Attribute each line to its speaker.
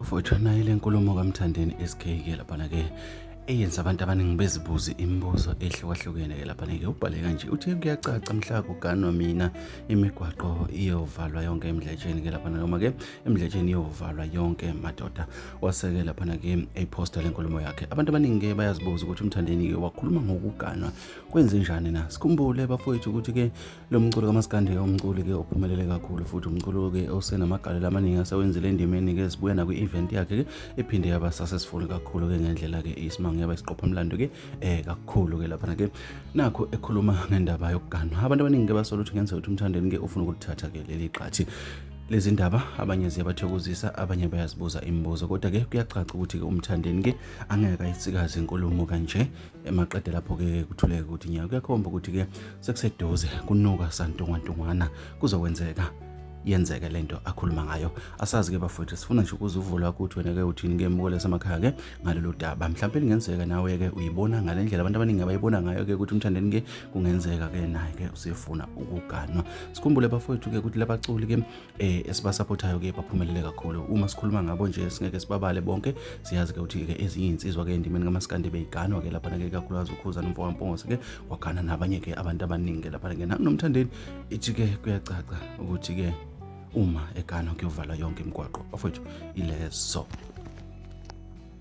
Speaker 1: Mfowethu naye le nkulumo kaMthandeni SK ke laphana ke eyenza abantu abaningi bezibuze imibuzo ehlukahlukene ke laphana ke ubhale kanje uthi kuyacaca mhla kuganwa mina imigwaqo iyovalwa yonke emdletsheni ke laphana noma ke emdletsheni iyovalwa yonke madoda waseke laphana ke eyiposta le nkulumo yakhe abantu abaningi ke bayazibuza ukuthi uMthandeni ke wakhuluma ngokuganwa kwenze njani na sikhumbule bafowethu ukuthi ke Lo mculo kamaskandi umculi ke ophumelele kakhulu futhi umculo ke osenamagalelo amaningi asewenzile endimeni ke sibuya nakwi event yakhe ke ephinde yaba successful kakhulu ke ngendlela ke isimanga yaba isiqopha umlando ke eh kakhulu ke lapha ke nakho ekhuluma ngendaba yokuganwa abantu abaningi ke basola ukuthi ngenzeka ukuthi umthandeni ke ufuna ukuthatha ke leli qhathi lezi ndaba abanye ziyabathokozisa abanye bayazibuza imibuzo kodwa-ke kuyacaca ukuthi-ke umthandeni-ke angeke ayisikaze inkulumo kanje emaqede lapho-ke kuthuleke ukuthi nyaka kuyakhomba ukuthi-ke sekuseduze kunuka santungwantungwana kuzokwenzeka yenzeke lento akhuluma ngayo asazi ke bafowethu sifuna nje ukuzuvula ukuthi wena ke uthini ke mukole samakhaya ke ngalolu daba mhlawumbe lingenzeka nawe ke uyibona ngale ndlela abantu abaningi abayibona ngayo ke ukuthi umthandeni ke kungenzeka ke naye ke usefuna ukuganwa sikhumbule bafowethu ke ukuthi labaculi ke eh esibasapothayo ke baphumelele kakhulu uma sikhuluma ngabo nje singeke sibabale bonke siyazi ke ukuthi ke ezinye insizwa ke endimeni kamaskande beyiganwa ke lapha ke kakhulukazi ukhuza nomfo wampongose ke wagana nabanye ke abantu abaningi ke lapha ke nomthandeni ithi ke kuyacaca ukuthi ke uma eganwa kuyovala yonke imigwaqo ofethu ilezo